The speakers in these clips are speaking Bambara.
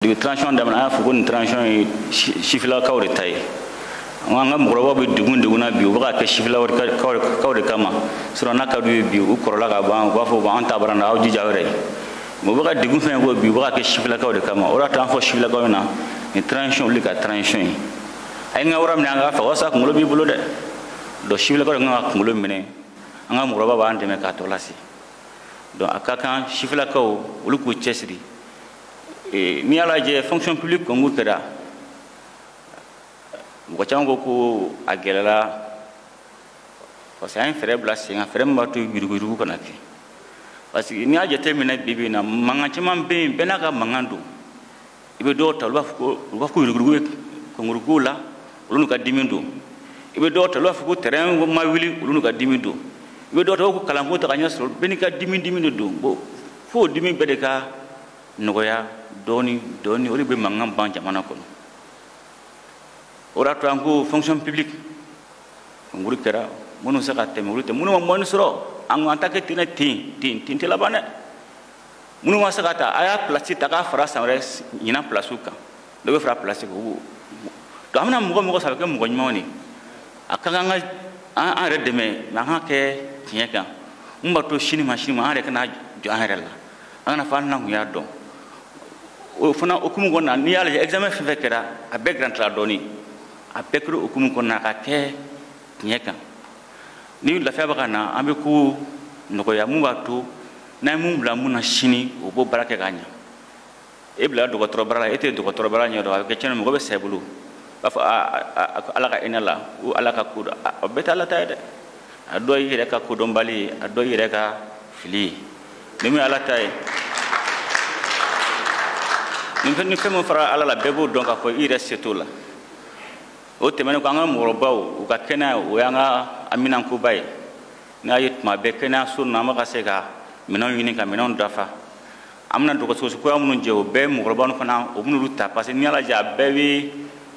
depi transition daminɛ an y'a fɔ ko nin transition ye sifilakaw de ta ye an ka mɔgɔkɔrɔbaw bɛ degun degun na bi u bɛ ka kɛ sifilakaw de kama sinon n'a ka d'u ye bi u kɔrɔla ka ban u b'a fɔ bon an ta bara na aw jija aw yɛrɛ ye mais u bɛ ka degun fɛn ko bi u bɛ ka kɛ sifilakaw de kama o de y'a to an fɔ sifilakaw ɲɛna nin transition olu ka transition ye a ye n ka wara minɛ an k'a faga o y'a sɔrɔ kunkolo b'i bolo dɛ donc sifilakaw de kan ka kunkolo minɛ an ka mɔgɔkɔrɔbaw b'an dɛmɛ k'a tɔ lase donc a ka kan sifilakaw olu k'u cɛsiri Eh, n'i y'a lajɛ fonction publique concours kɛra mɔgɔ caman ko ko a gɛlɛla parce que an ye fɛɛrɛ bila sen kan fɛɛrɛ min b'a to yuruguyurugu kana kɛ parce que n'i y'a jateminɛ bi bi in na mankan caman bɛ yen bɛɛ n'a ka mankan don i bɛ dɔw ta olu b'a fɔ ko u b'a fɔ ko yuruguyurugu bɛ concours kow la olu n'u ka dimi don i bɛ dɔw ta olu b'a fɔ ko train ma wuli olu n'u ka dimi don i bɛ dɔw ta ko kalanko tɛ ka ɲɛ sɔrɔ bɛɛ n'i ka dimi dimi de don bon fo dimi bɛɛ de ka nɔgɔya dɔɔni dɔɔni o de bɛ mankan ban jamana kɔnɔ o de y'a to an ko fonction publique kɔnkuru kɛra minnu se ka tɛmɛ olu tɛ minnu ma moyenne sɔrɔ an ko an t'a kɛ ten ten ten ten tɛ laban dɛ minnu ma se ka ta a y'a pilasi ta k'a fara san wɛrɛ ɲinan pilasiw kan dɔ bɛ fara pilasi kan o donc an bɛna mɔgɔ o mɔgɔ sɔrɔ a bɛ kɛ mɔgɔ ɲumanw de ye a ka kan an k'an yɛrɛ dɛmɛ mais an k'a kɛ tiɲɛ kan mun b'a to sini ma sini ma an yɛrɛ kana jɔ an yɛrɛ la an kan'a fɔ n'an kun y'a dɔn o fana o hukumu kɔnɔna n'i y'a lajɛ examen fɛn o fɛn kɛra a bɛɛ garantila dɔɔni a bɛɛ kɛra o hukumu kɔnɔna k'a kɛ tiɲɛ kan ni lafiya bɛ ka na an bɛ ko nɔgɔya mun b'a to n'an ye mun bila mun na sini o b'o baara kɛ k'a ɲɛ e bila dɔgɔtɔrɔbaara la e tɛ dɔgɔtɔrɔbaara ɲɛ dɔn a bɛ kɛ cɛnni mɔgɔ bɛ sa i bolo i b'a fɔ ala ka hinɛ a la o ala ka ko don a bɛɛ tɛ ala ta ye dɛ a dɔ y'i yɛrɛ ka kodɔnbaliya ye a dɔ y'i yɛrɛ ka fili ye ni min ye ala ta ye ni fɛn ni fɛn min fara ala la bɛɛ b'o dɔn k'a fɔ i yɛrɛ se t'o la o tɛmɛnen kɔ an ka mɔgɔkɔrɔbaw u ka kɛnɛya o y'an ka haminankoba ye n'a ye tuma bɛɛ kɛnɛyaso ninnu an bɛ ka se ka minɛnw ɲini ka minɛnw dafa an bɛna dɔgɔtɔrɔso kura minnu jɔ o bɛɛ mɔgɔkɔrɔba ninnu fana o bɛn'olu ta parce que n'i y'a lajɛ a bɛɛ bɛ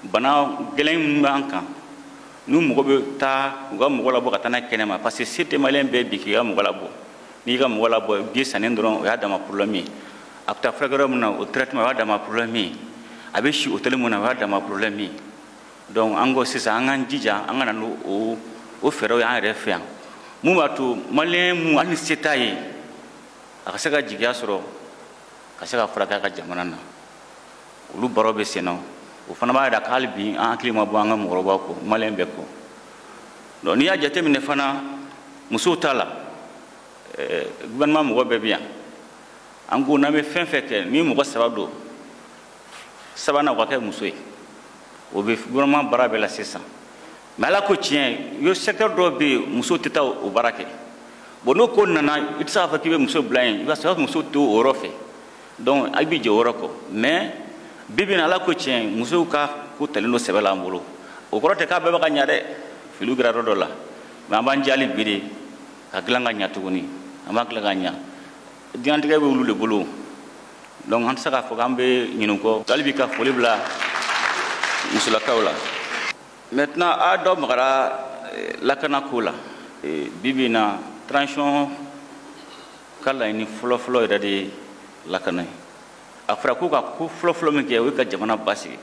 bana gɛlɛn minnu b'an kan n'u mɔgɔ bɛ taa u ka mɔgɔ labɔ ka taa n'a ye kɛnɛma parce que se tɛ maliyɛn bɛɛ ye bi k'i ka mɔgɔ labɔ n'i ka mɔgɔ labɔ billet sanni dɔrɔn o y'a dama problème ye a bɛ taa furakɛ yɔrɔ min na o traitement o y'a dama problème ye a bɛ si hôtel mun na o y'a dama problème ye donc an ko sisan an k'an jija an ka na n'o o o fɛɛrɛw ye an yɛrɛ fɛ yan mun b'a to maliyɛn mun hali ni se t'a ye a ka se ka jigiya sɔrɔ ka se ka furakɛ a ka jamana na olu baaraw bɛ senna o fana b'a jira ko hali bi an hakili ma bɔ an ka mɔgɔkɔrɔbaw kɔ maliyɛn bɛɛ kɔ donc n'i y'a jateminɛ fana musow ta la eh, gouvernement mɔgɔ bɛɛ bɛ yan an ko n'an bɛ fɛn fɛn kɛ ni mɔgɔ saba don sabanan o ka kɛ muso ye o bɛ gouvernement baara bɛɛ la sisan mais ala ko tiɲɛ yo secteur dɔw bɛ yen muso tɛ taa o baara kɛ bon n'o ko nana i tɛ se k'a fɔ k'i bɛ muso bila yen i b'a sɔrɔ muso t'o yɔrɔ fɛ donc a b'i jɛ o yɔrɔ kɔ mais bi bi in na ala ko tiɲɛ musow ka ko talen don sɛbɛ la an bolo o kɔrɔ tɛ k'a bɛɛ bɛ ka ɲa dɛ filiw kɛra yɔrɔ dɔ la mais an b'an jija hali bi de k'a dilan ka ɲa tuguni an b'a dilan ka ɲa diɲɛnatigɛ bɛ olu de bolo donc an tɛ se k'a fɔ k'an bɛ ɲinɛ u kɔ hali bi ka foli bila musolakaw la maintenant a dɔ magara eh, lakana ko la eh, bi bi na transition ka laɲini fɔlɔfɔlɔ yɛrɛ de ye lakana ye a fɔra k'u ka ko fɔlɔfɔlɔ min kɛ o ye ka jamana basigi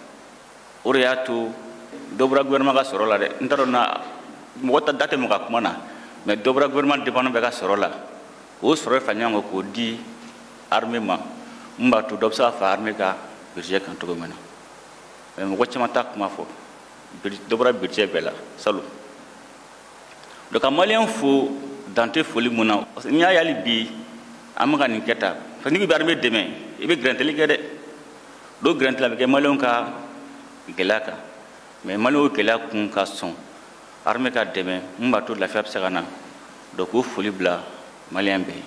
o de y'a to dɔ bɔra gouvernement ka sɔrɔ la dɛ n t'a dɔn na mɔgɔ ta da tɛ mɔgɔ ka kuma na mais dɔ bɔra gouvernement département bɛɛ ka sɔrɔ la o sɔrɔ fa ɲɔgɔn kan k'o di armée ma min b'a to dɔ bɛ se ka fa armée ka budget kan cogo min na mais mɔgɔ caman t'a kuma fɔ dɔ bɔra budget bɛɛ la salon donc ka maliyɛn fo dan tɛ foli min na parce que n'i y'a ye hali bi an bɛ ka nin kɛ tan parce que n'i bɛ armée dɛmɛ i bɛ gɛrɛntɛli kɛ dɛ dɔw gɛrɛntɛli a bɛ kɛ maliyɛnw ka gɛlɛya kan mais maliyɛnw gɛlɛya kun ka sɔn armée ka dɛmɛ min b'a to lafiya bɛ se ka na donc k'o foli bila maliyɛn bɛɛ ye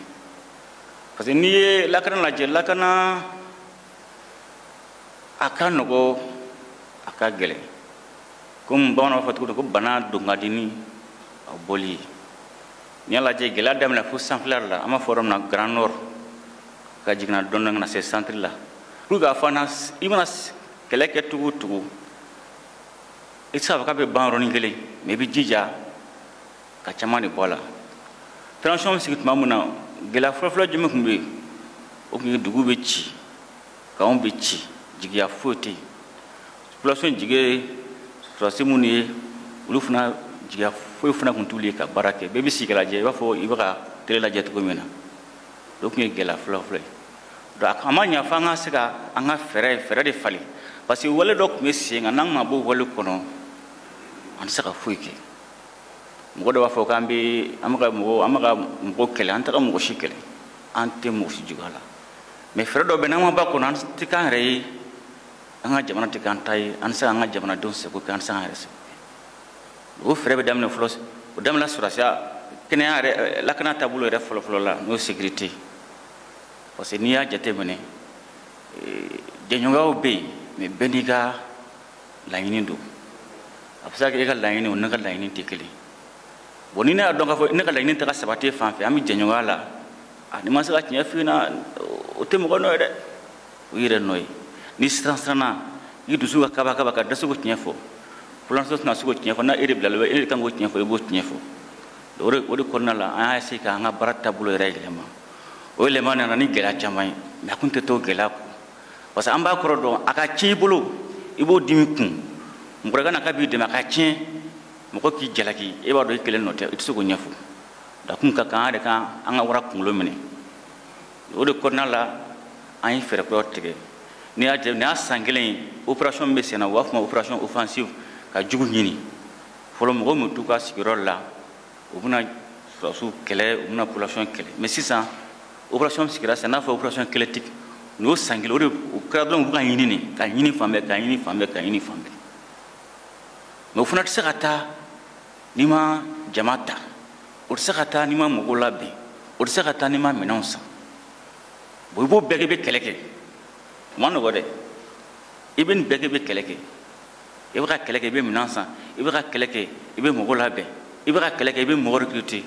parce que n'i ye lakana lajɛ lakana a ka nɔgɔ a ka gɛlɛn komi bamananw b'a fɔ cogo ko bana don ka di ni a bɔli ye n'i y'a lajɛ gɛlɛya daminɛ fo sanfɛla la an b'a fɔ yɔrɔ min na grand nord ka jiginna dɔɔni ka na se centre la pour k'a fɔ na i mana kɛlɛ kɛ cogo o cogo i tɛ se k'a fɔ k'a bɛ ban yɔrɔnin kelen mais i bɛ jija ka caman de bɔ a la transition bɛ sigi tuma min na gɛlɛya fɔlɔfɔlɔ jumɛn tun bɛ yen o tun ye dugu bɛ ci camps bɛ ci jigiya foyi tɛ yen population jigi ye sɔrɔdasi minnu ye olu fana jigiya foyi fana tun t'olu ye ka baara kɛ bɛɛ bɛ sigi ka lajɛ i b'a fɔ i bɛ ka télé lajɛ cogo min na o tun ye gɛlɛya fɔlɔfɔlɔ ye donc a ma ɲa fo an ka se ka an ka fɛɛrɛ fɛɛrɛ de falen parce que wale dɔ tun bɛ sen kan n'an ma bɔ o wale kɔnɔ an tɛ se ka foyi kɛ mɔgɔ dɔ b'a fɔ k'an bɛ an bɛ ka mɔgɔ an bɛ ka mɔgɔ kɛlɛ an tɛ ka mɔgɔ si kɛlɛ an tɛ mɔgɔ si juguya la mais fɛɛrɛ dɔ bɛ n'an ma b'a kɔnɔ an tɛ k'an yɛrɛ ye an ka jamana tɛ k'an ta ye an tɛ se k'an ka jamanadenw sago kɛ an tɛ se k'an yɛrɛ sago kɛ o fɛɛrɛ bɛ daminɛ fɔlɔ o daminɛ sɔrɔsiya kɛnɛya yɛrɛ eh, lakana taabolo yɛrɛ fɔlɔfɔlɔ la n'o ye sécurité parce que n'i y'a jateminɛ eh, jɛɲɔgɔnyaw bɛ yen mais bɛɛ n'i ka laɲini don a bɛ se ka kɛ e ka laɲini o ne ka laɲini tɛ kelen bon ni ne y'a dɔn k'a fɔ ne ka laɲini tɛ ka sabati e fan fɛ an bɛ jɛɲɔgɔnya la a n'i ma se ka tiɲɛ f'i ɲɛna o tɛ mɔgɔ nɔ ye dɛ o y'i yɛrɛ nɔ ye n'i siran siranna i dusu ka kaba kaba ka dɛsɛ k'o tiɲɛ fɔ population tɛna se k'o tiɲɛ fɔ n'a e de bilala bɛ e de kan k'o tiɲɛ fɔ i b'o tiɲɛ fɔ o de o de kɔnɔna la an y'a essayer k'an ka baara taabolo yɛrɛ yɛlɛma o yɛlɛma nana ni gɛlɛya caman ye mais a kun tɛ to gɛlɛya kɔ parce que an b'a kɔrɔ dɔn a ka tiɲɛ i bolo i b'o dimi kun mɔgɔ dɔ ka na k'a b'i dɛmɛ a ka tiɲɛ mɔgɔ k'i jalaki e b'a dɔn i kelen nɔ tɛ i tɛ se k'o ɲɛfɔ donc a kun ka kan an yɛrɛ k'an ka wara kunkolo minɛ o de kɔnɔna la an ye fɛɛrɛ kuraw tigɛ n'i y'a jɛ nin y'a san kelen ye opération min bɛ senna u b'a fɔ o ma opération offensive ka jugu ɲini fɔlɔ mɔgɔ min t'u ka sigiyɔrɔ la u bɛna sɔrɔsiw kɛlɛ u bɛna population kɛlɛ mais sisan opération sigira sen kan n'a fɔ opération kɛlɛtigi nin y'o san kelen o de o kɛra dɔrɔn u bɛ ka ɲini de ka ɲini fan bɛɛ ka ɲini fan bɛɛ ka ɲini fan bɛɛ mais o fana tɛ se ka taa n'i ma jama ta o tɛ se ka taa n'i ma mɔgɔw labɛn o tɛ se ka taa n'i ma minɛnw san bon i b'o bɛɛ kɛ i bɛ kɛlɛ kɛ o ma nɔgɔ dɛ i bɛ nin bɛɛ kɛ i bɛ kɛlɛ kɛ i bɛ ka kɛlɛ kɛ i bɛ minɛn san i bɛ ka kɛlɛ kɛ i bɛ mɔgɔ labɛn i bɛ ka kɛlɛ kɛ i bɛ mɔgɔ recruter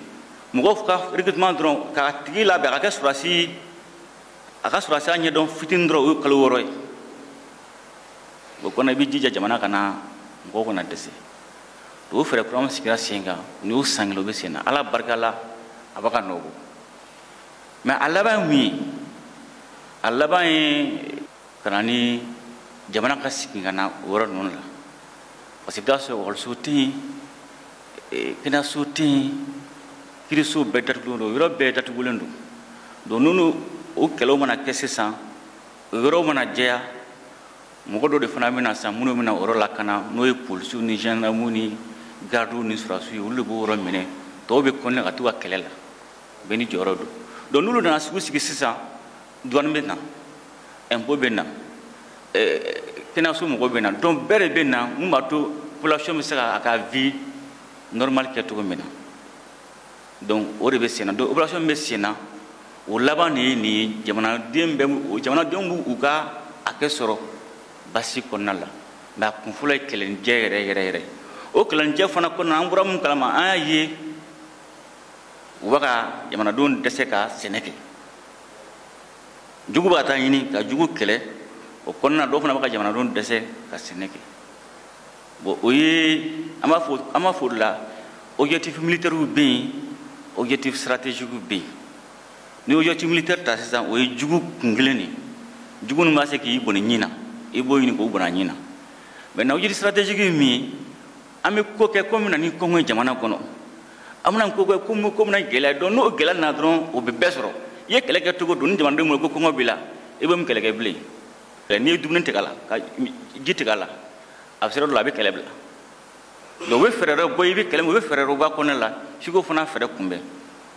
mɔgɔw ka recrutement dɔrɔn k'a tigi labɛn a ka kɛ sɔrɔsi a ka sɔrɔsiya ɲɛdɔn fitini dɔrɔn o ye kalo wɔɔrɔ ye o kɔnɔ i bɛ jija jamana kana mɔgɔw kana dɛsɛ o fɛɛrɛ kura min sigira sen kan nin y'o san kelen o bɛ sen na ala barika la a bɛ ka nɔ bɔ mais a laban ye mun ye a laban ye ka na ni jamana ka sigi ka na o yɔrɔ ninnu la parce que i bɛ taa sɔrɔ ekɔliso tɛ yen kɛnɛyaso tɛ yen kiriso bɛɛ datugulen don yɔrɔ bɛɛ datugulen don donc n'olu o kɛlɛw mana kɛ sisan o yɔrɔw mana jɛya mɔgɔ dɔ de fana bɛna sisan minnu bɛna o yɔrɔ lakana n'o ye polisiw ni gendarmew ni gardiw ni sɔrɔsiw ye olu de b'o yɔrɔ minɛ tɔw bɛ continuer ka t'u ka kɛlɛ la bɛɛ n'i jɔyɔrɔ don donc n'olu nana sigi sigi sisan duwani bɛ na impôt bɛ na kɛnɛyaso mɔgɔw bɛ na donc bɛɛ de bɛ na mun b'a to population bɛ se ka a ka vie normale kɛ cogo min na donc o de bɛ sen na donc operation bɛ sen na o laban de ye nin ye jamanaden bɛ jamanadenw b'u u ka hakɛ sɔrɔ basigi kɔnɔna la mais a kun fɔlɔ ye kɛlɛnijɛ yɛrɛ yɛrɛ yɛrɛ o kɛlɛnijɛ fana kɔnɔna an bɔra mun kalama an y'a ye u bɛ ka jamanadenw dɛsɛ ka sɛnɛ kɛ jugu bɛ ka taa ɲini ka jugu kɛlɛ o kɔnɔna dɔw fana bɛ ka jamanadenw dɛsɛ ka sɛnɛ kɛ bon o ye an b'a fɔ an b'a fɔ o de la objectif militaires bɛ yen objectif stratégiques bɛ yen ni objectif militaire ta sisan o ye jugu kun kelen de ye jugu min b'a se k'i bɔnɛ i ni na i b'o ɲini k'o bɔnɛ a ni na maintenant objectif stratégique ye min ye an bɛ ko kɛ ko min na ni kɔngɔ ye jamana kɔnɔ an bɛna ko kɛ ko ko min na gɛlɛya don n'o gɛlɛya nana dɔrɔn o bɛ bɛɛ sɔrɔ i ye kɛlɛ kɛ cogo don ni jamanadenw bolo ko kɔngɔ b'i la i bɛ mun kɛlɛ kɛ bilen n'i ye dumuni tigɛ a la ka ji tigɛ a la a bɛ sira dɔ la a bɛ kɛlɛ bila donc u bɛ fɛɛrɛ dɔ bɔ i bɛ kɛlɛ min u bɛ fɛɛrɛ dɔ bɔ a kɔnɔna la f'i k'o fana fɛɛrɛ kunbɛn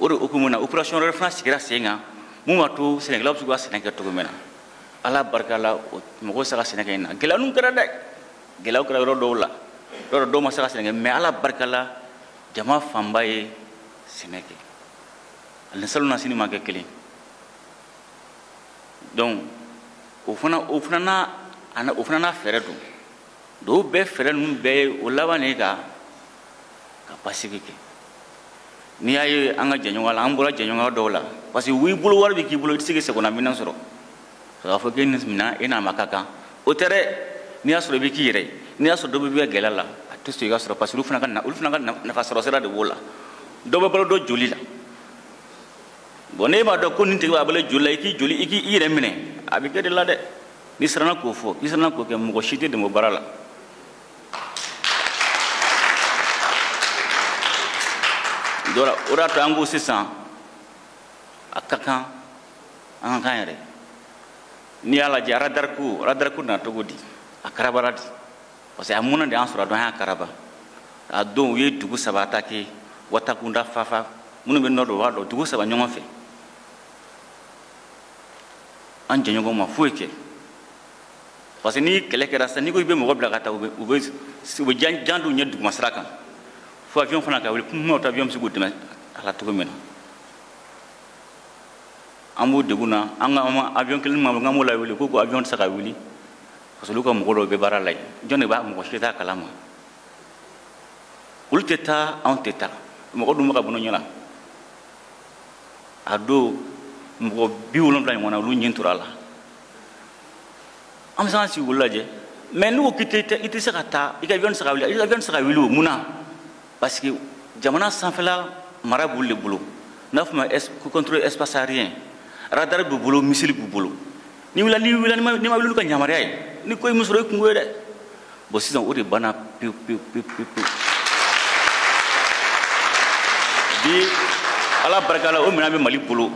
o de hukumu na operation wɛrɛ fana sigira sen kan mun b'a to sɛnɛkɛlaw bɛ se k'u ka sɛnɛ kɛ cogo min na ala barika la mɔgɔw sera ka sɛnɛ kɛ ɲinan gɛlɛya ninnu kɛra dɛ gɛlɛyaw kɛra yɔrɔ dɔw la yɔrɔ dɔw ma se ka sɛnɛ kɛ mais ala barika la jama fanba ye sɛnɛ kɛ a ni salonnasini ma kɛ kelen donc o fana o fana n'a ana o fana n'a fɛɛrɛ don dɔw bɛɛ fɛɛrɛ ninnu bɛɛ ye o laban de ka ka basigi kɛ n'i y'a ye an ka jɛɲɔgɔn la an bɔra jɛɲɔgɔn dɔw la parce que w'i bolo wari bɛ k'i bolo i tɛ se k'i sagona minɛn sɔrɔ a b'a fɔ k'e nin minɛn e n'a ma ka kan o tɛ dɛ n'i y'a sɔrɔ i bɛ k'i yɛrɛ ye n'i y'a sɔrɔ dɔ bɛ bɛ gɛlɛya la a tɛ sɔn i k'a sɔrɔ parce que olu fana ka olu fana ka nafa sɔrɔ sira de b'o la dɔ bɛ balo dɔ joli la bon n'i b'a dɔn ko nin tigi b'a balo joli la i k'i joli i k'i yɛrɛ minɛ a bɛ kɛ de la dɛ n'i siranna k'o fɔ i siranna k'o kɛ mɔgɔ si t'i dɛmɛ o baara la dɔ la o de y'a to an ko sisan a ka kan an ka kan yɛrɛ n'i y'a lajɛ aradari ko aradari ko nana cogo di a karabara di parce que a munna de an sɔrɔ dɔn an y'a karaba a don u ye dugu saba attaqué wataguna fafa minnu bɛ nord dɔn b'a dɔn dugu saba ɲɔgɔn fɛ an jɛɲɔgɔn ma foyi kɛ parce que ni kɛlɛ kɛra sisan n'i ko i bɛ mɔgɔ bila ka taa u bɛ u bɛ u bɛ jan jan d'u ɲɛ duguma sira kan fo avion fana ka wuli kuma ta avion bɛ se k'u dɛmɛ a la cogo min na an b'o degun na an ka avion kelen ma k'an b'o lawuli ko ko avion tɛ se ka wuli parce que olu ka mɔgɔ dɔw bɛ baara la yen jɔn de b'a mɔgɔ si t'a kalama olu tɛ taa anw tɛ taa mɔgɔ dun bɛ ka bon ɲɛ la a don mɔgɔ bi wolonwula ɲɔgɔn na olu nin tora a la an bɛ se k'an sigi k'olu lajɛ mais n'u ko k'i tɛ i tɛ se ka taa i ka avion tɛ se ka wuli i ka avion tɛ se ka wuli o mun na parce que jamana sanfɛla mara b'olu de bolo n'a fɔ ma contrôle espace aérien radar b'u bolo missile b'u bolo n'i wulila n'i wulila n'i ma wuli olu ka yamaruya ye ni ko ye min sɔrɔ i kunko ye dɛ bon sisan o de banna pewu pewu pewu pewu pewu bi ala barika la o minɛn bɛ mali bolo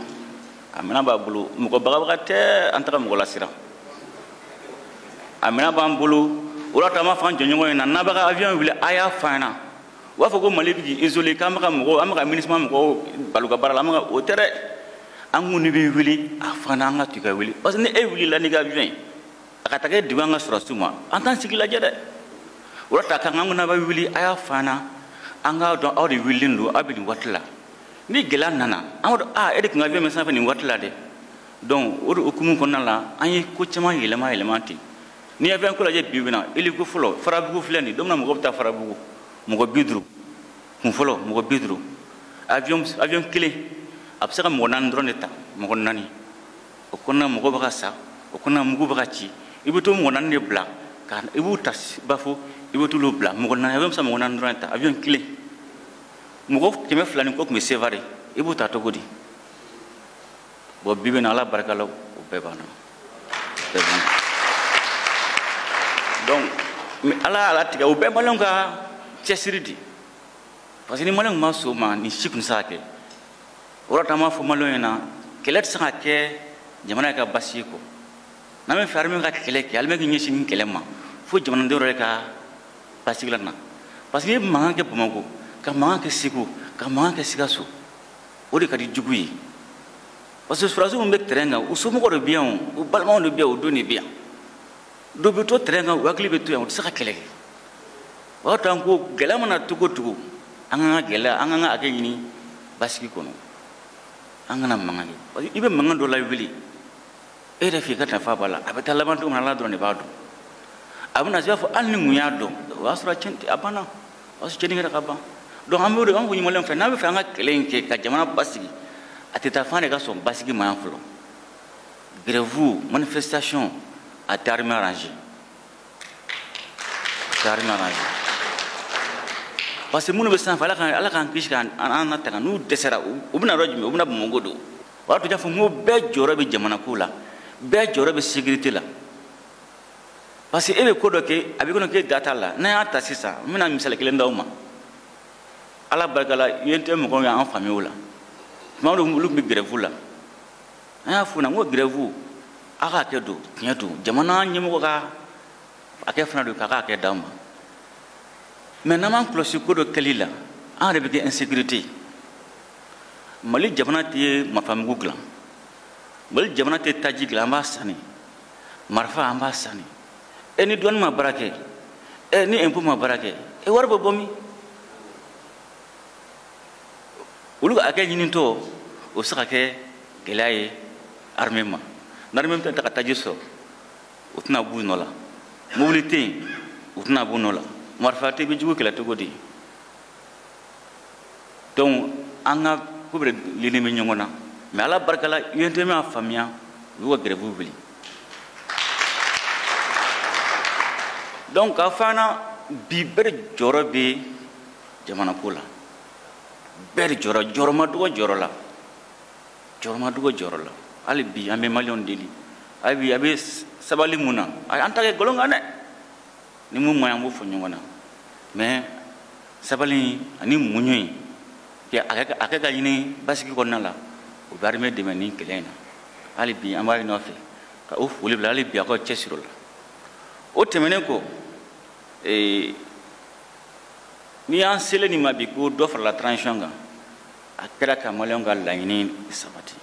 a minɛn b'a bolo mɔgɔ bagabaga tɛ an tɛ ka mɔgɔ lasiran a minɛn b'an bolo o de y'a to an b'a f'an jɛɲɔgɔn ɲɛna n'a bɛ ka avion wuli a y'a f'an ɲɛna u b'a fɔ ko mali bɛ k'i isolé k'an bɛ ka mɔgɔw an bɛ ka minusma mɔgɔw bali u ka baara la an bɛ ka o tɛ dɛ an ko n'i bɛ wuli a f'an ɲɛna an ka to ka wuli parce que ni e wulila n'i ka avion ye a ka taa kɛ degun an ka sɔrɔsiw ma an t'an sigi lajɛ dɛ o de y'a to a ka kan an ko n'a bɛ wuli a y'a f'an ɲɛna an k'a dɔn aw de wulilen don aw bɛ nin waati la ni gɛlɛya nana an b'a dɔn aa e de tun ka avion bɛ sanfɛ nin waati la dɛ donc o de hukumu kɔnɔna la an ye ko caman yɛlɛma yɛlɛma ten n'i ye avion ko lajɛ bi bi in na hélico fɔlɔ farabugu filɛ nin don min na mɔgɔ bɛ taa farabugu mɔgɔ bi duuru kun fɔlɔ mɔgɔ bi duuru avion avion kelen a bɛ se ka mɔgɔ naani dɔrɔn de ta mɔgɔ naani o kɔnɔna mɔgɔ bɛ ka sa o kɔnɔna mugu bɛ ka ci i bɛ to mɔgɔ naani de bila ka i b'u ta bafo i bɛ t'olu bila mɔgɔ naani avion bɛ se ka mɔgɔ naani dɔrɔn de ta avion kelen mɔgɔ kɛmɛ fila ni kɔ tun bɛ sevare i b'u ta cogo di bon bi bi in na ala barika la o bɛɛ banna bɛɛ banna donc mais ala y'a latigɛ o bɛɛ maliyɛnw ka cɛsiri di parce que ni maliyɛnw ma sɔn o ma nin si tun tɛ se ka kɛ o y'a to an b'a fɔ maliyɛnw ɲɛna kɛlɛ tɛ se ka kɛ jamana yɛrɛ ka basigi kɔ n'an bɛ fɛ armée ka kɛlɛ kɛ armée k'i ɲɛsin nin kɛlɛ ma fo jamanadenw yɛrɛ ka basigi lana parce que n'i ye mankan kɛ bamako ka mankan kɛ segu ka mankan kɛ sikaso o de ka di jugu ye parce que sɔrɔsiw min bɛ terrain kan u somɔgɔw de bɛ yan o u balimaw de bɛ yan u den de bɛ yan dɔw bɛ to terrain kan u hakili bɛ to yan u tɛ se ka kɛlɛ kɛ o y'a to an ko gɛlɛya mana cogo o cogo an ka kan ka gɛlɛya an ka kan ka hakɛ ɲini basigi kɔnɔ an kana mankan kɛ parce que i bɛ mankan dɔ lawuli e yɛrɛ f'i ka nafa b'a la a bɛ taa laban don min na ala dɔrɔn de b'a dɔn a bɛna se i b'a fɔ hali ni n tun y'a dɔn o y'a sɔrɔ a banna o y'a sɔrɔ cɛnni kɛra ka ban donc an b'o de an k'o ɲini maliyɛnw fɛ n'an bɛ fɛ an ka kɛlɛ in kɛ ka jamana basigi a tɛ taa f'an de ka sɔn basigi ma yan fɔlɔ grève manifestation a tɛ armée arrangé a tɛ armée arrangé parce que minnu bɛ sanfɛ ala k'an kisi k'an latanga n'u dɛsɛra u bɛ na yɔrɔ jumɛn u bɛ na bamakɔ don o y'a to n y'a fɔ n ko bɛɛ jɔyɔrɔ bɛ jamanako la bɛɛ jɔyɔrɔ bɛ sécurité la parce que e bɛ ko dɔ kɛ a b'i kɔnɔ k'e da t'a la n'an y'a ta sisan n bɛna misali kelen d'aw ma ala barika la UNTM mɔgɔw y'an faamuya o la tuma dɔw olu tun bɛ gɛrɛfu la an y'a f'u na n ko gɛrɛfu a ka hakɛ don tiɲɛ don jamana ɲɛmɔgɔ ka hakɛ fana don k'a ka hakɛ d'aw ma mais n'an m'an kɔlɔsi ko dɔ kɛli la an yɛrɛ bɛ kɛ insécurité ye mali jamana tɛ marifamugu dilan mali jamana tɛ taji dilan an b'a sanni marifa an b'a sanni e ni douane ma baara kɛ e ni impôt ma baara kɛ e wari bɛ bɔ min olu ka hakɛ ɲinitɔ o bɛ se ka kɛ gɛlɛya ye armée ma ni armée tɛ taa ka taji sɔrɔ u tɛna b'u nɔ la mobili tɛ yen u tɛna b'u nɔ la marifa tɛ bɛ jugu kɛlɛ cogo di donc an ka ko bɛɛ dulonnen bɛ ɲɔgɔn na mais ala barika la UNTM y'a faamuya u y'u ka grève wuli donc k'a fɔ an na bi bɛɛ de jɔyɔrɔ bɛ jamanako la bɛɛ de jɔyɔrɔ jɔyɔrɔ ma dɔgɔ jɔyɔrɔ la jɔyɔrɔ ma dɔgɔ jɔyɔrɔ la hali bi an bɛ maliyɛnw deli hali bi a bɛ sabali mun na an t'a kɛ nkalon kan dɛ ni mun ma an b'o fɔ ɲɔgɔn na mais sabali ani muɲu i ka hakɛ ka ɲini basigi kɔnɔna la o bɛ armée dɛmɛ nin kɛlɛ in na hali bi an b'a ɲini aw fɛ ka o foli bila hali bi a ka cɛsiri la o tɛmɛnen kɔ ee n'i y'an selen nin ma bi ko dɔ farala transition kan a kɛra ka maliyɛnw ka laɲini sabati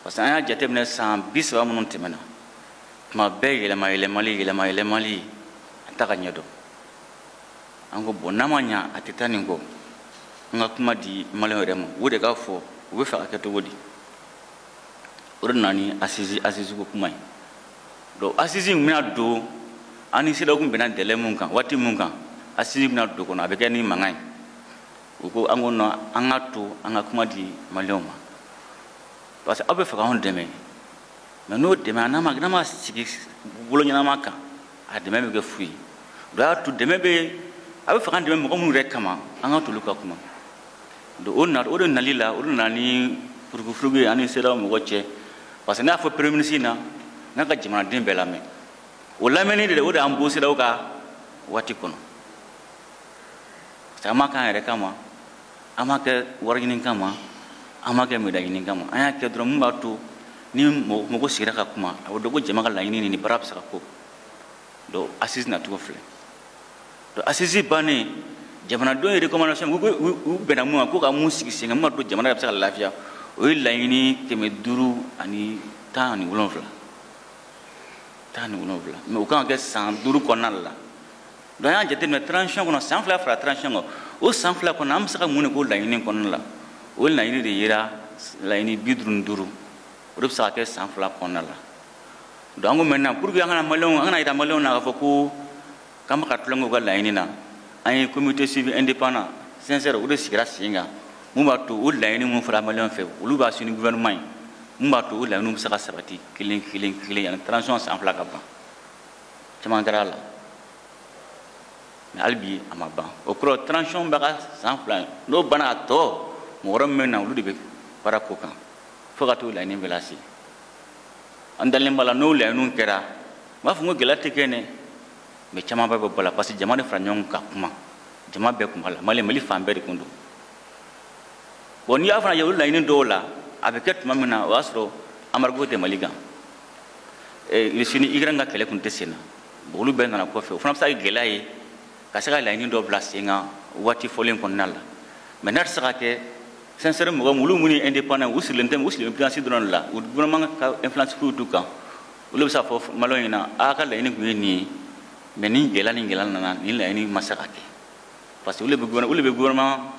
parce que an y'a jateminɛ san bi saba minnu tɛmɛna tuma bɛɛ yɛlɛma yɛlɛmali yɛlɛma yɛlɛmali an t'a ka ɲɛdɔn an ko bon n'a ma ɲa a tɛ taa nin kɔ an ka kuma di maliyɛn yɛrɛ ma o de k'a fɔ u bɛ fɛ ka kɛ cogo di o de nana ni assise assise ko kuma ye donc assise in bɛna don an ni CEDEAO tun bɛnna délai mun kan waati mun kan assise bɛna don kɔnɔ a bɛ kɛ ni mankan ye u ko an ko non an k'a to an ka kuma di maliyɛnw ma parce que aw bɛ fɛ k'anw dɛmɛ mais n'o dɛmɛ a n'a ma n'a ma sigi bolo ɲɛnama kan a dɛmɛ bɛ kɛ fu ye o y'a to dɛmɛ bɛ a bɛ fɛ k'an dɛmɛ mɔgɔ minnu yɛrɛ kama an k'a t'olu ka kuma donc o na o de nali la o de nana ni furugufurugu ye an ni CEDEAO mɔgɔ cɛ parce que ne y'a fɔ premier ministre na n'a ka jamanaden bɛɛ lamɛn o lamɛnni de o de y'an bɔ CEDEAO ka waati kɔnɔ parce que an m'a k'an yɛrɛ kama an m'a kɛ wari ɲini kama an m'a kɛ médaille ɲini kama an y'a kɛ dɔrɔn mun b'a to ni mɔgɔ sigira ka kuma a bɛ dɔn ko jama ka laɲini ni nin baara bɛ se ka ko donc assises nacogo filɛ donc assises bannen jamanadenw ye recommandation u bɛnna mun kan ko ka mun sigi sen kan mun b'a to jamana yɛrɛ bɛ se ka lafiya o ye laɲini kɛmɛ duuru ani tan ani wolonwula tan ani wolonwula mais o kan ka kɛ san duuru kɔnɔna la donc an y'a jateminɛ transition kɔnɔ san fila fara transition kan o san fila kɔnɔ an bɛ se ka mun de k'o laɲini kɔnɔna la o laɲini de yera laɲini bi duuru ni duuru o de bɛ se ka kɛ san fila kɔnɔna la donc an ko maintenant pour que an kana maliyɛnw an kana yira maliyɛnw na k'a fɔ ko k'an bɛ ka tulonkɛ u ka laɲini na an ye comité suivi indépendant CINSERE o de sigira sen kan mun b'a to o laɲini minnu fɔra maliyɛnw fɛ olu b'a suivre ni gouvernement ye mun b'a to o laɲiniw bɛ se ka sabati kelen kelen kelen yanni transition san fila ka ban caman kɛra a la mais hali bi a ma ban o kɔrɔ transition bɛ ka san fila ye n'o banna a tɔ mɔgɔ wɛrɛ min bɛ na olu de bɛ baara k'o kan fo ka t'o laɲini bɛɛ lase an dalen b'a la n'o laɲiniw kɛra n b'a fɔ n ko gɛlɛya tɛ kɛ dɛ mais caman bɛɛ bɛ bɔ a la parce que jama de fara ɲɔgɔn kan ka kuma jama bɛɛ kun b'a la mali mali fan bɛɛ de kun don bon n'i y'a fana ye olu laɲini dɔw la a bɛ kɛ tuma min na o y'a sɔrɔ embargo tɛ mali kan eh, russie ni ukraine ka kɛlɛ kun tɛ sen na bon olu bɛɛ nana kɔfɛ o fana bɛ se ka kɛ gɛlɛya ye ka se ka laɲini dɔ bila sen kan waati fɔlen kɔnɔna la mais n'a tɛ se ka kɛ CINSERE mɔgɔ minnu minnu ye indépendant u sigilen tɛ u sigilen finance dɔrɔn de la u gouvernement ka influence foyi t'u kan olu bɛ se k'a fɔ maliyɛnw ɲɛna a ka laɲini kun ye nin ye mais nin gɛlɛya ni gɛlɛya nana nin laɲini ma se ka kɛ parce que olu de bɛ gouvernement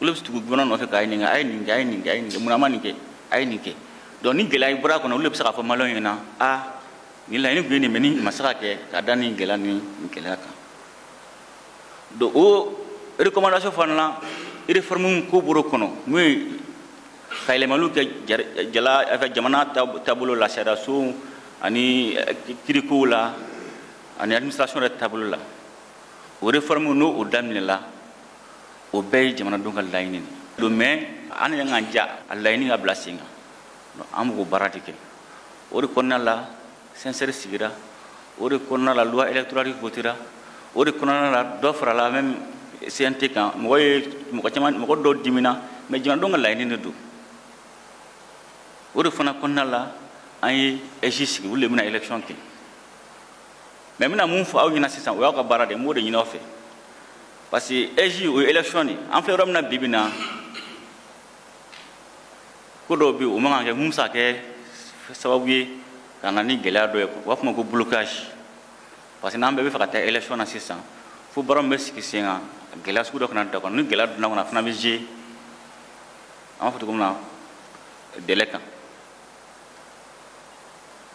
olu bɛ tugu gouvernement nɔfɛ k'a ɲininka a ye nin kɛ a ye nin kɛ a ye nin kɛ mun na a ma nin kɛ a ye nin kɛ donc ni gɛlɛya bɔra a kɔnɔ olu de bɛ se k'a fɔ maliyɛnw ɲɛna a nin laɲini kun ye nin mais nin ma se ka kɛ ka da nin gɛlɛya ni nin gɛlɛya kan donc o recommandation fana na réforme ko bɔr'o kɔnɔ n'o ye ka yɛlɛmaliw kɛ jala jamana taabolo la sariyasow ani kirikow la ani administration yɛrɛ taabolo la o réforme ni o daminɛna o bɛɛ ye jamanadenw ka laɲini de ye mais an yɛrɛ k'an ja a laɲini ka bila sen kan an b'o baara de kɛ o de kɔnɔna la CINSERE sigira o de kɔnɔna la loi électorale votera o de kɔnɔna la dɔ farala même CNT kan mɔgɔ ye mɔgɔ caman mɔgɔ dɔw dimina mais jamanadenw ka laɲini de don o de fana kɔnɔna la an ye AIGE sigi olu de bɛna élection kɛ mais n bɛna mun fɔ aw ɲɛna sisan o y'aw ka baara de ye n b'o de ɲini aw fɛ parce que AIGE o ye élection de an filɛ yɔrɔ min na bi bi in na ko dɔw bɛ yen o man kan ka kɛ mun bɛ se ka kɛ sababu ye ka na ni gɛlɛya dɔ ye u b'a fɔ ma ko blocage parce que n'an bɛɛ bɛ fɛ ka taa élection na sisan fo baara min bɛ sigi sen kan gɛlɛya sugu dɔ kana don a kɔnɔ ni gɛlɛya donna a kɔnɔ a fana bɛ jouer an b'a fɔ cogo min na délai kan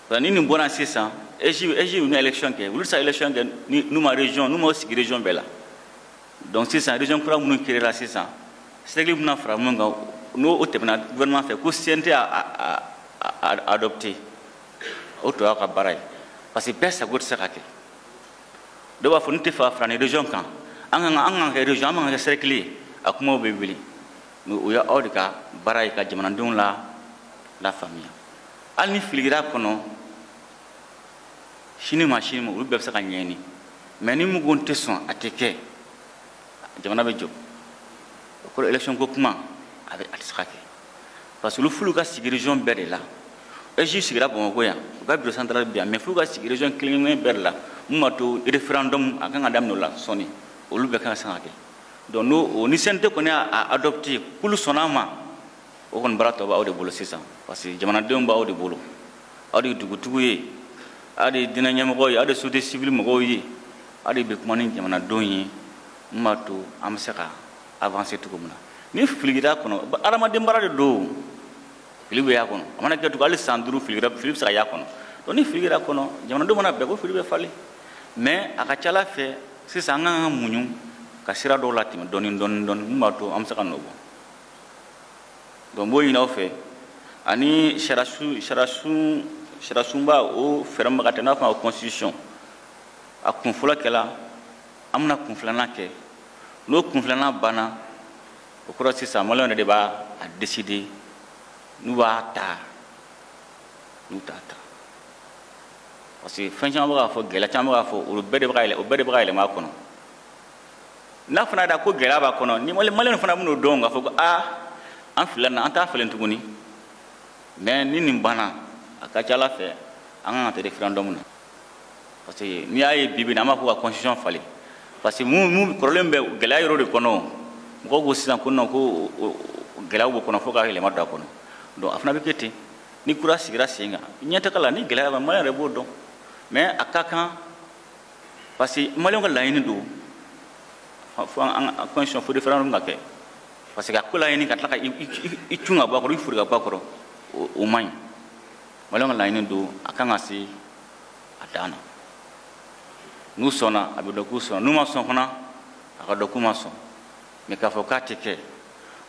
Voilà, ni nin bɔra sisan AIGE AIGE bɛna élection kɛ olu tɛ se ka élection kɛ n'u ma région n'u ma sigi région bɛɛ la donc sisan région kura minnu créera sisan cercle bɛna fara minnu kan n'o o tɛmɛna gouvernement fɛ ko CNT a a a adopté o tɔ y'aw ka baara ye parce que bɛɛ sago tɛ se ka kɛ dɔw b'a fɔ ne tɛ fɛ ka fara nin région kan an kan ka kɛ région an ka kɛ cercle ye a kumaw bɛ wuli mais o ye aw de ka baara ye ka jamanadenw la lafaamuya hali ni fili kɛra a kɔnɔ sini ma sini ma olu bɛɛ bɛ se ka ɲɛɲini mais ni mɔgɔw tɛ sɔn a tɛ kɛ jamana bɛ jɔ o kɔrɔ élection ko kuma a bɛ a tɛ se ka kɛ parce que olu fo olu ka sigi région bɛɛ de la AIGE sigira bamakɔ yan u ka bureau central bɛ yan mais fo olu ka sigi région kelen kelen bɛɛ de la min b'a to référendum a kan ka daminɛ o la sɔɔni olu bɛɛ kan ka se ka kɛ donc n'o o ni CNT kɔni y'a adopté k'olu sɔnna a ma o kɔni baara tɔ b'aw de bolo sisan parce que jamanadenw b'aw de bolo aw de ye dugutigiw ye aw de ye diinɛ ɲɛmɔgɔw ye aw de ye société civile mɔgɔw ye aw de bɛ kuma ni jamanadenw ye min b'a to an bɛ se ka avancer cogo min na ni fili kɛra a kɔnɔ adamaden baara de don fili bɛ y'a kɔnɔ a mana kɛ cogo hali san duuru fili kɛra fili bɛ se ka y'a kɔnɔ donc ni fili kɛra a kɔnɔ jamanadenw mana bɛn ko fili bɛ falen mais a ka ca ala fɛ sisan an ka kan ka muɲu ka sira dɔw latɛmɛ dɔɔni dɔɔni dɔɔni min b'a to an bɛ se ka nɔ bɔ donc n b'o ɲin'aw fɛ ani sariyasun sariyasun sariyasunba o fɛɛrɛ min bɛ ka taa n'a fɔ ko constitution a kun fɔlɔ kɛla an bɛna kun filanan kɛ n'o kun filanan banna o kɔrɔ sisan maliyɛnw yɛrɛ de b'a a décider n'u b'a ta n'u t'a ta parce que fɛn caman bɛ ka fɔ gɛlɛya caman bɛ ka fɔ olu bɛɛ de bɛ ka yɛlɛ o bɛɛ de bɛ ka yɛlɛma a kɔnɔ n'a fana da ko gɛlɛya b'a kɔnɔ ni maliyɛnw fana bɛn'o dɔn k'a fɔ ko aa an filila an t'a falen tuguni mais ni nin banna a ka ca ala fɛ an kan ka taa référendum na parce que n'i y'a ye bi bi in na an b'a fɔ ka constitution falen parce que mun mun kɔrɔlen bɛ gɛlɛya yɔrɔ de kɔnɔ mɔgɔw ko sisan ko non ko gɛlɛyaw b'o kɔnɔ fo ka yɛlɛma don a kɔnɔ donc a fana bɛ kɛ ten ni kura sigira sen kan ɲɛtaga la ni gɛlɛya bɛ maliyɛn yɛrɛ b'o dɔn mais a ka kan parce que maliyɛnw ka laɲini don fo an ka constitution fo référendum ka kɛ parce que a ko laɲini ka tila ka i cun ka bɔ a kɔrɔ i fori ka bɔ a kɔrɔ o man ɲi maliyɛnw ka laɲini don a kan ka se a dan na n'u sɔnna a bɛ dɔn k'u sɔnna n'u ma sɔn fana a ka dɔn k'u ma sɔn mais k'a fɔ k'a tɛ kɛ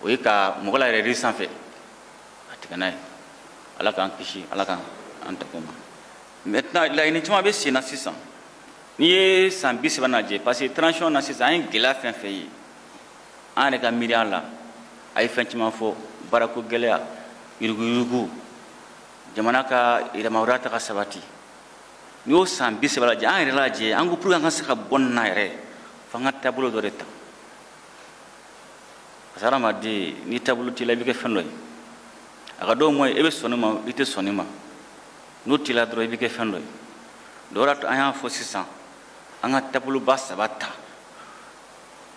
o ye ka mɔgɔ layɛlɛ yiri sanfɛ a tigɛ n'a ye ala k'an kisi ala k'an tanga o ma maintenant laɲini caman bɛ sen na sisan n'i ye san bi saba lajɛ parce que transition na sisan an ye gɛlɛya fɛn fɛn ye an yɛrɛ ka miiriya la a ye fɛn caman fɔ baarako gɛlɛya yuruguyurugu jamana ka yɛrɛmahɔrɔnya ta ka sabati n'i y'o san bi saba lajɛ an yɛrɛ lajɛ an ko pour que an ka se ka bɔ nin na yɛrɛ f'an ka taabolo dɔ de ta parce que hadamaden ni taabolo t'i la i bɛ kɛ fɛn dɔ ye a ka dɔn mɔ i bɛ sɔn nin ma i tɛ sɔn nin ma n'o t'i la dɔrɔn i bɛ kɛ fɛn dɔ ye donc o de y'a to an y'a fɔ sisan an ka taaboloba saba ta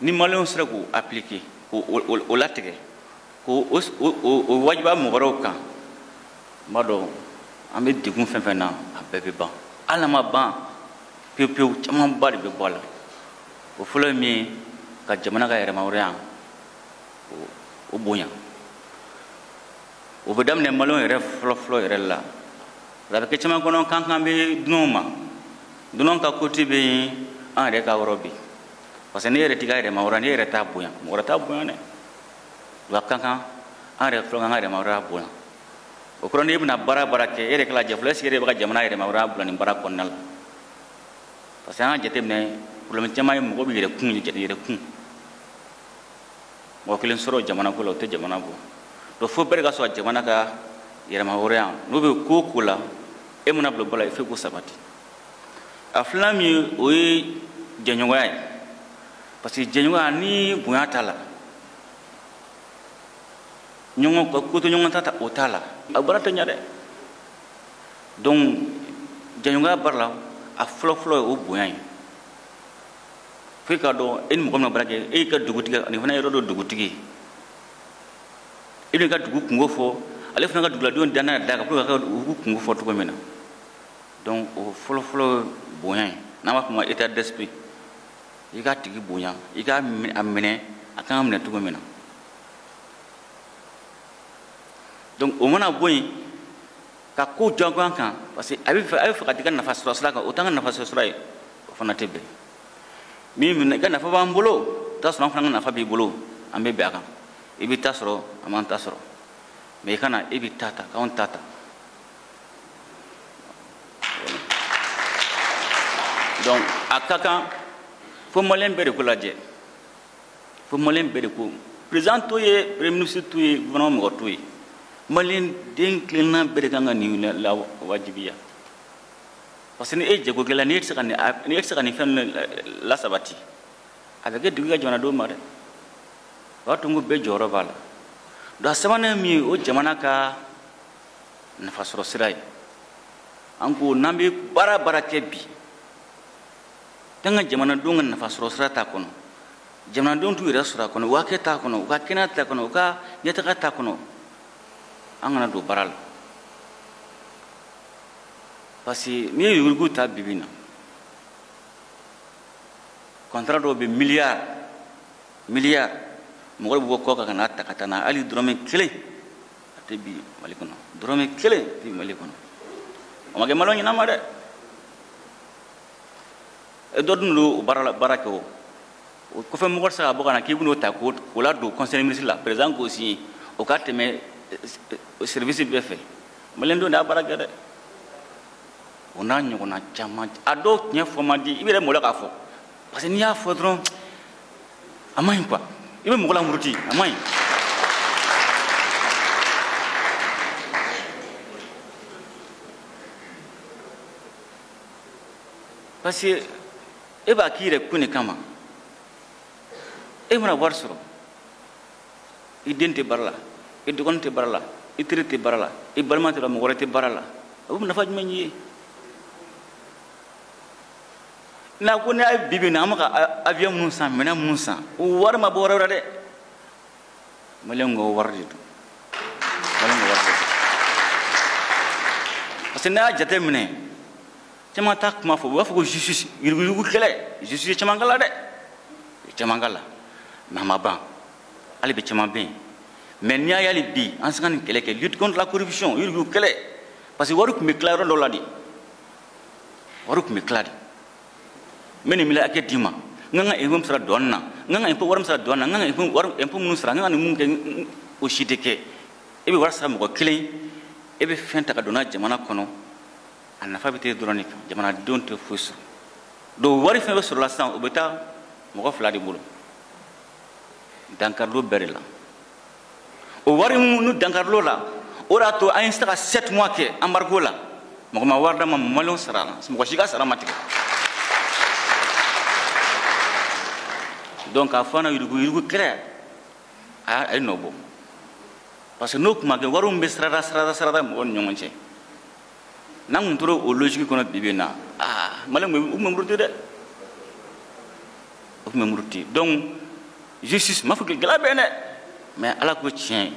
ni maliyɛnw sera k'o appliquer k'o latigɛ k'o wajibiya mɔgɔ wɛrɛw kan n b'a dɔn an bɛ degun fɛn fɛn na a bɛɛ bɛ ban hali n'a ma ban pewu pewu camanba de bɛ bɔ a la o fɔlɔ ye min ye ka jamana ka yɛrɛmahɔrɔnya o bonya o bɛ daminɛ maliyɛnw yɛrɛ fɔlɔfɔlɔ yɛrɛ la a bɛ kɛ caman kɔnɔ k'an kan bɛ dunanw ma dunanw ka côté bɛ yen an yɛrɛ ka yɔrɔ bɛ yen parce que n'e yɛrɛ t'i ka yɛrɛmahɔrɔnya n'e yɛrɛ t'a bonya mɔgɔ wɛrɛ t'a bonya dɛ wa a ka kan an yɛrɛ fɔlɔ k'an ka yɛrɛmahɔrɔnya bonya o kɔrɔ n'e bɛna baara baara kɛ e yɛrɛ k'a lajɛ fɔlɔ est ce que e yɛrɛ bɛ ka jamana yɛrɛmahɔrɔnya bila nin baara kɔnɔna la parce que an y'a jateminɛ problème caman ye mɔgɔ bɛ yɛrɛkun yɛrɛkun mɔgɔ kelen sɔrɔ jamana ko la o tɛ jamana bɔ donc fo bɛɛ de ka sɔrɔ jamana ka yɛrɛmahɔrɔnya n'o bɛ ko o ko la e mana bila baara la il faut k'o sabati a filanan min ye o ye jɛɲɔgɔnya ye parce que jɛɲɔgɔnya ni bonya t'a la ɲɔgɔn ka ko to ɲɔgɔn ta ta o t'a la a baara tɛ ɲa dɛ donc jɛɲɔgɔnya baara la a fɔlɔfɔlɔ ye o bonya ye fo e k'a dɔn e ni mɔgɔ min na baara kɛ e y'i ka dugutigi nin fana yɔrɔ dɔ dugutigi e b'i ka dugu kunko fɔ ale fana ka duguladenw dannaya d'a kan pour que ka dugu kunko fɔ cogo min na donc o fɔlɔfɔlɔ bonya ye n'an b'a fɔ o ma état d'esprit i k'a tigi bonya i k'a minɛ a kan ka minɛ cogo min na donc o mana bɔ yen ka ko jagoya kan parce que a bɛ fɛ a bɛ fɛ ka t'i ka nafa sɔrɔ sira kan o t'an ka nafa sɔrɔ sira ye o fana tɛ bɛn min minɛ i ka nafa b'an bolo i t'a sɔrɔ an fana ka nafa b'i bolo an bɛ bɛn a kan i b'i ta sɔrɔ an b'an ta sɔrɔ mais i kana e b'i ta ta k'anw ta ta donc a ka kan fo maliyɛn bɛɛ de k'o lajɛ fo maliyɛn bɛɛ de ko président t'o ye premier ministre t'o ye gouvernement mɔgɔ t'o ye maliyɛn den kelenna bɛɛ de kan ka nin lawajibiya parce que ni e ye jago kɛla ni e tɛ se ka nin ni e tɛ se ka nin fɛn ninnu lasabati a bɛ ka digi an ka jamanadenw ma dɛ o b'a to n ko bɛɛ jɔyɔrɔ b'a la donc a sabanan ye min ye o jamana ka nafasɔrɔ sira ye an ko n'an bɛ baara baara kɛ bi k'an ka jamanadenw ka nafasɔrɔ sira t'a kɔnɔ jamanadenw t'u yɛrɛ sɔrɔ a kɔnɔ u hakɛ t'a kɔnɔ u ka kɛnɛya t'a kɔnɔ u ka ɲɛtaga t'a kɔnɔ an kana don baara la parce que n'i ye yurugu ta bi bi in na contrat dɔw bɛ miliyari miliyari mɔgɔ bɛ bɔ kɔ kan ka n'a ta ka taa n'a hali dɔrɔmɛ kelen a tɛ bin mali kɔnɔ dɔrɔmɛ kelen a tɛ bin mali kɔnɔ o ma kɛ maliyɛn ɲɛnama dɛ e dɔ dun don o baara la baara kɛ o o kɔfɛ mɔgɔ tɛ se ka bɔ ka na k'i bɛn'o ta k'o ladon conseil ministre la président k'o signé o ka tɛmɛ eh, service bɛɛ fɛ maliyɛn dɔ de y'a baara kɛ dɛ o n'a ɲɔgɔnna caman a dɔw ɲɛfɔ man di i yɛrɛ malo k'a fɔ parce que n'i y'a fɔ dɔrɔn a man ɲi quoi i bɛ mɔgɔ lamuruti a man ɲi. parce que e b'a k'i yɛrɛ kun de kama e mana wari sɔrɔ i den tɛ baara la i dɔgɔnin tɛ baara la i teri tɛ baara la i balima tɛ la mɔgɔ wɛrɛ tɛ baara la o bɛ nafa jumɛn ɲ'i ye n'a ko n'a ye bi bi in na an bɛ ka avion minnu san minɛn minnu san o wari ma bɔ yɔrɔ wɛrɛ dɛ maliyɛnw ka wari de don maliyɛnw ka wari de don parce que n'a y'a jate minɛ caman t'a kuma fɔ u b'a fɔ ko justice yuruguyurugu kɛlɛ justice ye caman kala dɛ caman kala mais a ma ban hali bi caman bɛ yen mais n'i y'a ye hali bi an se ka nin kɛlɛ kɛ lutte contre la corruption yuruguyurugu kɛlɛ parce que wari tun bɛ tila yɔrɔ dɔ la de wari tun bɛ tila de n bɛ nin mila hakɛ d'i ma n ka n ka impôt sara douane na n ka n ka impôt wari sara douane na n ka n ka impôt wari impôt minnu sara n ka ka nin mun kɛ o si tɛ kɛ e bɛ wari sara mɔgɔ kelen e bɛ fɛn ta ka don n'a jamana kɔnɔ a nafa bɛ t'e dɔrɔn de kan jamanadenw tɛ foyi sɔrɔ donc wari fɛn bɛ sɔrɔla sisan o bɛ taa mɔgɔ fila de bolo dankari don bɛɛ de la o wari minnu dankarilo la o de y'a to an ye se ka sept mois kɛ embargo la mɔgɔ ma wari d'an ma maliyɛnw sarala mɔgɔ si ka sara ma tigɛ donc k'a fɔ an na yuruguyurugu kɛlɛ a ye nɔ bɔ parce que n'o tun ma kɛ wariw bɛ sirada sirada sirada mɔgɔw ni ɲɔgɔn cɛ n'an tun tora o lojigi kɔnɔ bi bi in na aa maliyɛnw tun bɛ muruti dɛ u tun bɛ muruti donc justice ma fɔ k'i gɛlɛya bɛ yen dɛ mais ala ko tiɲɛ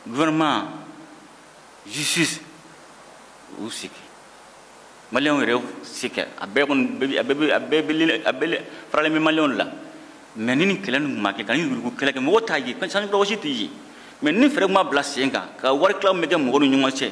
gouvernement justice u se kɛ maliyɛnw yɛrɛ se kɛ a bɛɛ kɔni a bɛɛ a bɛɛ a bɛɛ problème bɛ maliyɛnw la mais ni nin kɛlɛ nin ma kɛ ka nin yurugu kɛlɛ kɛ mɔgɔ t'a ye sanji kɔrɔ wɔsi tɛ ye mais ni fɛɛrɛ ma bila sen kan ka wari tilaw bɛ kɛ mɔgɔ ni ɲɔgɔn cɛ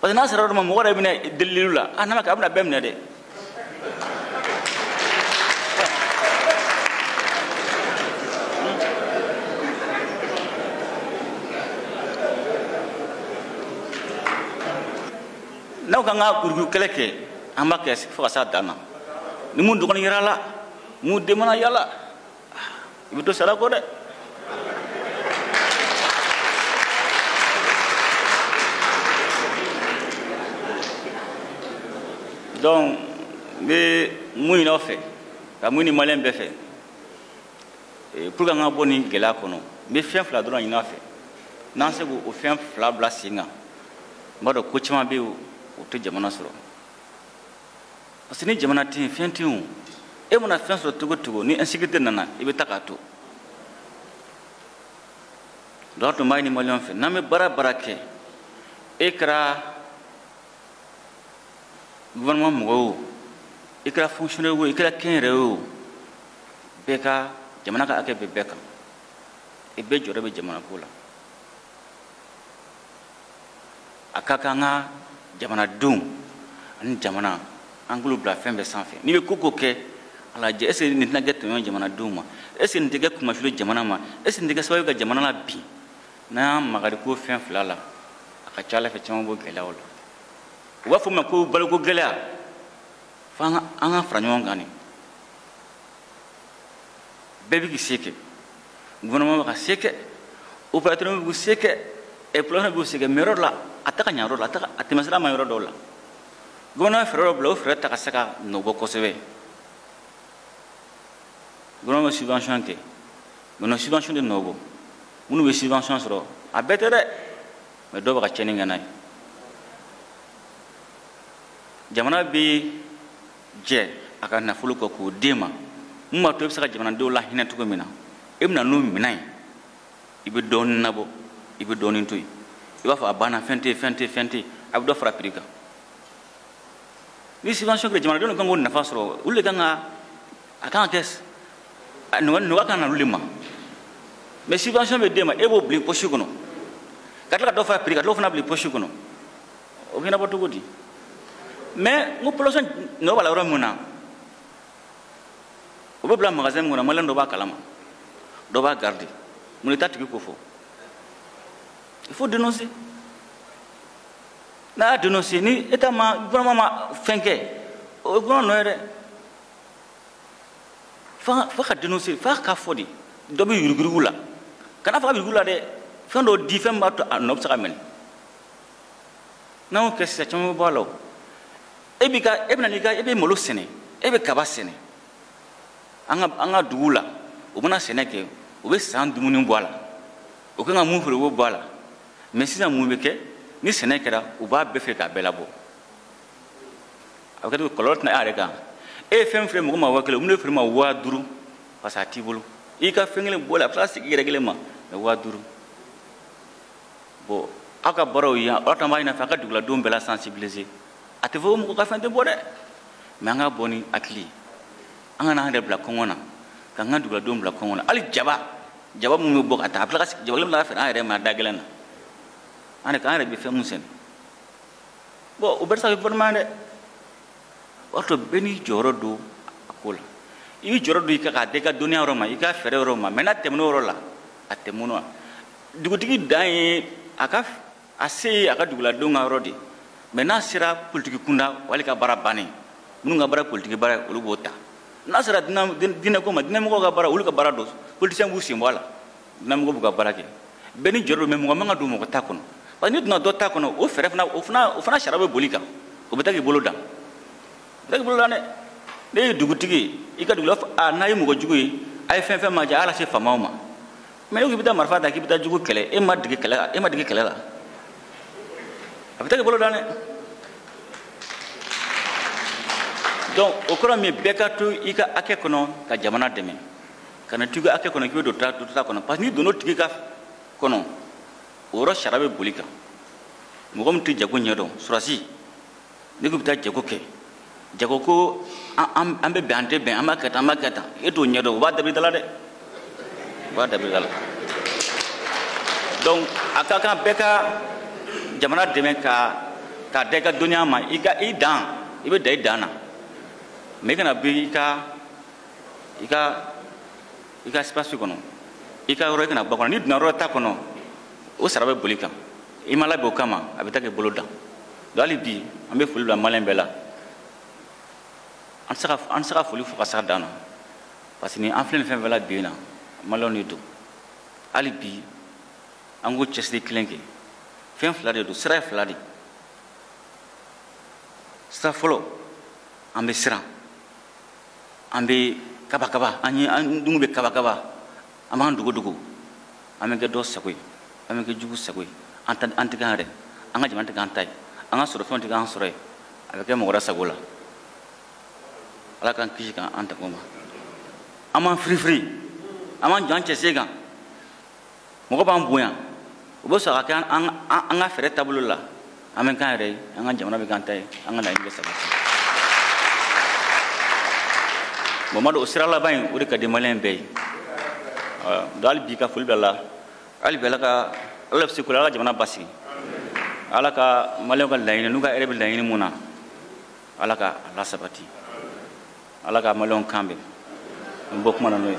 parce que n'a sera yɔrɔ ma mɔgɔ yɛrɛ bɛna deliliw la a n'a ma kɛ a bɛna bɛɛ minɛ dɛ n'aw kan ka yurugu kɛlɛ kɛ an b'a kɛ fo ka s'a dan na ni min dɔgɔnin yer'a la min den mana y'a la i bɛ to sara kɔ dɛ donc n bɛ mun ɲini aw fɛ ka mun ɲini maliyɛn bɛɛ fɛ eh, pour que an ka bɔ nin gɛlɛya kɔnɔ n bɛ fɛn fila dɔrɔn ɲini aw fɛ n'an se k'o fɛn fila bila sen kan n b'a dɔn ko caman bɛ yen o tɛ jamana sɔrɔ parce que ni jamana tɛ yen fɛn tɛ yen e mana fɛn sɔrɔ cogo o cogo ni insécurité nana i bɛ taa k'a to donc n tun b'a ɲini maliyɛnw fɛ n'an bɛ baara o baara kɛ e kɛra gouvernement mɔgɔ o i kɛra fonctionnaire o i kɛra kɛnyɛrɛye o bɛɛ ka jamana ka hakɛ bɛ bɛɛ kan i bɛɛ jɔyɔrɔ bɛ jamanako la a ka kan an ka jamanadenw ani jamana an k'olu bila fɛn bɛɛ sanfɛ n'i bɛ ko o ko kɛ a lajɛ est ce que nin tɛna kɛ tɔɲɔ jamanadenw ma est ce que nin tɛ kɛ kumafilo jamana ma est ce que nin tɛ kɛ sababu ye ka jamana labin n'an y'an magari ko fɛn fila la a ka ca ala fɛ caman b'o gɛlɛyaw la u b'a fɔ ma ko baloko gɛlɛya fo an ka fara ɲɔgɔn kan de bɛɛ bɛ k'i se kɛ gouvernement bɛ k'a se kɛ opérateur bɛ k'u se kɛ exploitant bɛ k'u se kɛ mais yɔrɔ dɔ la a tɛ ka ɲɛ yɔrɔ la a tɛ ka a tɛmɛsira ma yɔrɔ dɔw la gouvernement bɛ fɛɛrɛ dɔ bila o fɛɛrɛ tɛ ka se ka nɔ bɔ kosɛbɛ gouvernement bɛ subvention kɛ mais n'o subvention tɛ nɔ bɔ minnu bɛ subvention sɔrɔ a bɛɛ tɛ dɛ mais dɔw bɛ ka tiɲɛni kɛ n'a ye jamana bɛ jɛ a ka nafolo kɔ k'o d'e ma mun b'a to i bɛ se ka jamanadenw lahinɛ cogo min na e bɛ na n'o minɛn ye i bɛ dɔɔnin nabɔ i bɛ dɔɔnin to yen i b'a fɔ a banna fɛn tɛ fɛn tɛ fɛn tɛ a bɛ dɔ fara piri kan ni subvention kɛra jamanadenw de kan k'o nafa sɔrɔ olu de kan ka a kan ka kɛ nɔgɔya ka na olu de ma mais subvention bɛ d'e ma e b'o bila i posi kɔnɔ ka tila ka dɔ fara piri kan ka dɔ fana bila i posi kɔnɔ o bɛ ɲɛnabɔ cogo di mais n ko population nɔ b'a la yɔrɔ min na o bɛ bila magasin min kɔnɔ maliyɛn dɔ b'a kalama dɔ b'a garidi mun de t'a tigi ko fɔ il faut dénoncer n'a y'a dénoncer ni état ma gouvernement ma fɛn kɛ o ye gouvernement nɔ ye dɛ f'a f'a ka dénoncer f'a k'a fɔ de dɔ bɛ yuruguyurugu la kan'a fɔ k'a yuruguyurugu la dɛ fɛn dɔ di fɛn min b'a to a nɔ bɛ se ka minɛ n'an y'o kɛ sisan caman bɛ bɔ a la o e b'i ka e bɛna n'i ka e bɛ malo sɛnɛ e bɛ kaba sɛnɛ an ka an ka duguw la u mana sɛnɛ kɛ u bɛ san dumuni bɔ a la u kan ka mun feere u b'o bɔ a la mais sisan mun bɛ kɛ ni sɛnɛ kɛra u b'a bɛɛ feere k'a bɛɛ labɔ a bɛ kɛ cogo kɔlɔlɔ tɛ na e yɛrɛ kan e ye fɛn feere mɔgɔ ma waa kelen u bɛn'a feere e ma waa duuru parce que a t'i bolo i ka fɛn kelen bɔra a bɛ tila ka segin i yɛrɛ kelen ma mais waa duuru bon aw ka baaraw ye yan ala tan b'a ɲin'a fɛ a ka duguladenw bɛɛ la sensibiliser a tɛ fɔ ko mɔgɔ ka fɛn tɛ bɔ dɛ mais an ka bɔ ni hakili ye an kana an yɛrɛ bila kɔngɔ na k'an ka duguladenw bila kɔngɔ na hali jaba jaba minnu bɛ bɔ ka taa a bɛ tila ka jaba kelen bila ka feere an yɛrɛ ma da gɛlɛn na an yɛrɛ k'an yɛrɛ bɛ fɛn min sɛnɛ bon o bɛɛ tɛ se ka kɛ gɔfɛrɛnaman ye dɛ o y'a to bɛɛ n'i jɔyɔrɔ don a ko la i b'i jɔyɔrɔ don i kan ka dan i ka dɔnniya yɔrɔ ma i ka fɛɛrɛ yɔrɔ ma mais n'a tɛmɛn'o yɔrɔ la a tɛmɛn'o la dugutigi dan ye a ka a se ye a ka duguladenw ka yɔrɔ de ye mais n'a sera politiki kunda wali ka baara bannen minnu ka baara politiki baara ye olu b'o ta n'a sera diinɛko ma diinɛmɔgɔw ka baara olu ka baara don politisiyɛn b'u sen bɔ a la diinɛmɔgɔ b'u ka baara kɛ bɛɛ n'i jɔyɔrɔ don mais mɔgɔ man ka don mɔgɔ ta kɔnɔ parce que n'i donna dɔ ta kɔnɔ o fɛɛrɛ fana o fana o fana sariya bɛ bol'i kan o bɛ taa k'i bolo dan o bɛ taa k'i bolo dan dɛ n'e ye dugutigi ye i ka dugu la a n'a ye mɔgɔ jugu ye a ye fɛn fɛn ma jɛ a y'a lase faamaw ma mais e ko i bɛ taa marifa ta k'i bɛ taa jugu kɛlɛ e ma dege kɛlɛ la e ma dege kɛlɛ la a bɛ taa k'i bolo dan dɛ donc o kɔrɔ mun bɛɛ ka to i ka hakɛ kɔnɔ ka jamana dɛmɛ kana to i ka hakɛ kɔnɔ k'i bɛ don dɔ ta kɔnɔ parce que n'i donna o tigi ka kɔnɔ o yɔrɔ sariya bɛ bol'i kan mɔgɔ min tɛ jago ɲɛdɔn surasi ne ko bɛ taa jago kɛ jago ko an bɛ bɛn an tɛ bɛn an b'a kɛ tan an b'a kɛ tan e t'o ɲɛ dɔn o b'a dabiri da la dɛ o b'a dabiri da la donc a ka kan bɛɛ ka jamana dɛmɛ ka ka da i ka dɔnniya ma i ka i dan i bɛ dan i dan na mais i kana bɔ i ka i ka i ka espace kɔnɔ i ka yɔrɔ i kana bɔ a kɔnɔ n'i donna yɔrɔ ta kɔnɔ o sara bɛ boli kan i ma labɛn o kama a bɛ taa k'i bolo dan hali bi an bɛ foli bila maliyɛn bɛɛ la an tɛ se ka an tɛ se ka foli fɔ ka s'a dan na parce que ni an filɛ nin fɛn fɛn la bi in na maliyɛnw de don hali bi an k'o cɛsiri kelen kɛ fɛn fila de don sira ye fila de ye sira fɔlɔ an bɛ siran an bɛ kabakaba an ye an dungu bɛ kabakaba an b'an dogodogo an bɛ kɛ dɔ sago ye an bɛ kɛ jugu sago ye an ta an tɛ k'an yɛrɛ an ka jamana tɛ k'an ta ye an ka sɔrɔfɛnw tɛ k'an sɔrɔ ye a bɛ kɛ mɔgɔ wɛrɛ sago la ala k'an kisi k'an an tanga o ma an b'an firifiri an b'an jɔ an cɛsen kan mɔgɔ b'an bonya u bɛ sɔn a ka kɛ an ka fɛɛrɛ taabolo la an bɛ k'an yɛrɛ ye an ka jamana bɛ k'an ta ye an ka laɲini bɛ sabati bon n m'a dɔn o sira laban in o de ka di maliyɛn bɛɛ ye donc hali bi ka foli bila la hali bi ala ka ala bɛ se ko la ala ka jamana basigi ala ka maliyɛnw ka laɲini n'u ka hɛrɛ bɛ laɲini mun na ala ka a lasabati ala ka maliyɛnw kan bɛn n bɔ kuma na n'o ye